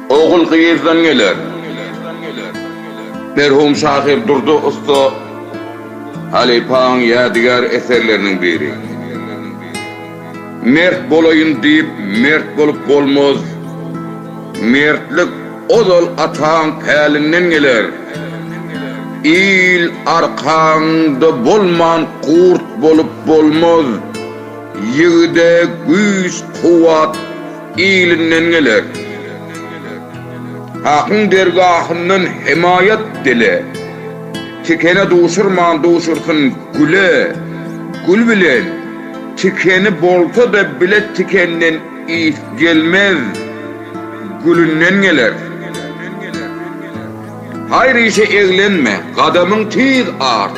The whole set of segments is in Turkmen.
Ogul gyzdan geler. Merhum şahyr Durdy ussa halypaň ýadygär eserleriniň biri. Mert bolaýyn diýip mert bolup bolmaz, mertlik ozal ataň pälinden geler. Il arkaňda bolman gurt bolup bolmaz, ýigide güýç-kuwwat, Ilinden geler. Hakyň dergahyndan hemaýat dile. Tikene duşurman duşursyn güle. Gül bilen tikeni bolsa-da bile tikenden ys gelmez, gülünden geler. Haýr işe eglenme, gadamyň tiz art.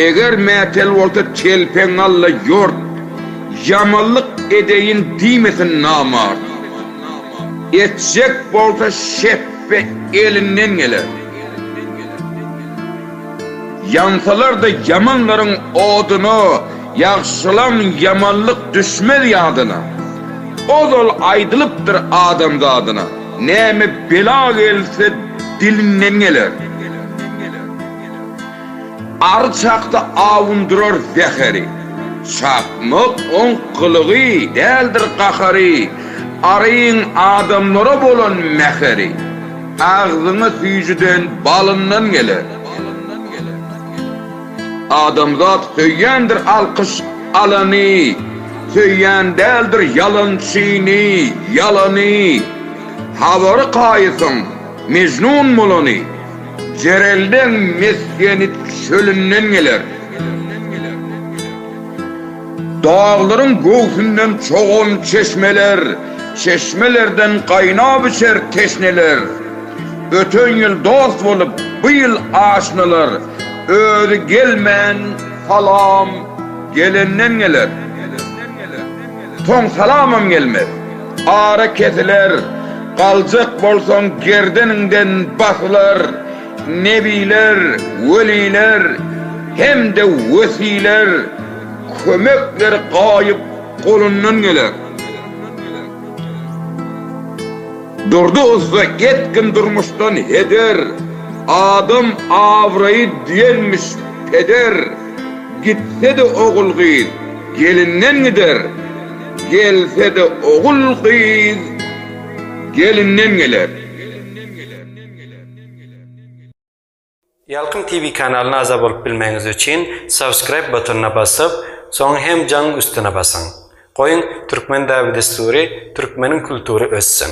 Eger mätäl bolsa telpeň alla ýort, Ýamanlyk edeýin diýmesin namart. Etjek bolsa şepbe elinden geler, Ýansalar-da ýamanlaryň oduna, Ýagşylaň ýamanlyk düşmez ýadyna. Ozal aýdylypdyr adam zadyna, Näme bela gelse dilinden geler. Ary çakda awundyrar zäheri. Çakmak oň gylygy, däldir gahary. Aryň adamlara bolan mäheri. Agzyňa süýjüden, balyndan geler. Adamzat söýýändir alkyş alany. Söýýän däldir ýalançyny, ýalany. Habary kaýysyň, Mejnun bolany. Jerelden mesgeni çölünden geler. Daglaryň göwsünden çogan çeşmeler, çeşmelerden gaýnap içer teşneler. Öten ýyl dost bolup, bu ýyl aşnalar, özi gelmän salam gelenden geler. Soň salamam gelmez. Ara kesiler, galjak bolsaň gerdeniňden basylar, nebiler, weliler hem-de wesiler kömekleri gaýyp golundan geler. Durdy ussa getgin durmuşdan heder, Adam abraýy diýenmiş peder, Gitse-de ogul-gyz gelinden gider, Gelse-de ogul-gyz gelinden geler. Ýalkym TV kanalyna agza bolup bilmegiňiz üçin subscribe butonyna basyp, soň hem jaň üstüne basyň. Goýuň Türkmen dabi-dessury, Türkmeniň kultury össin!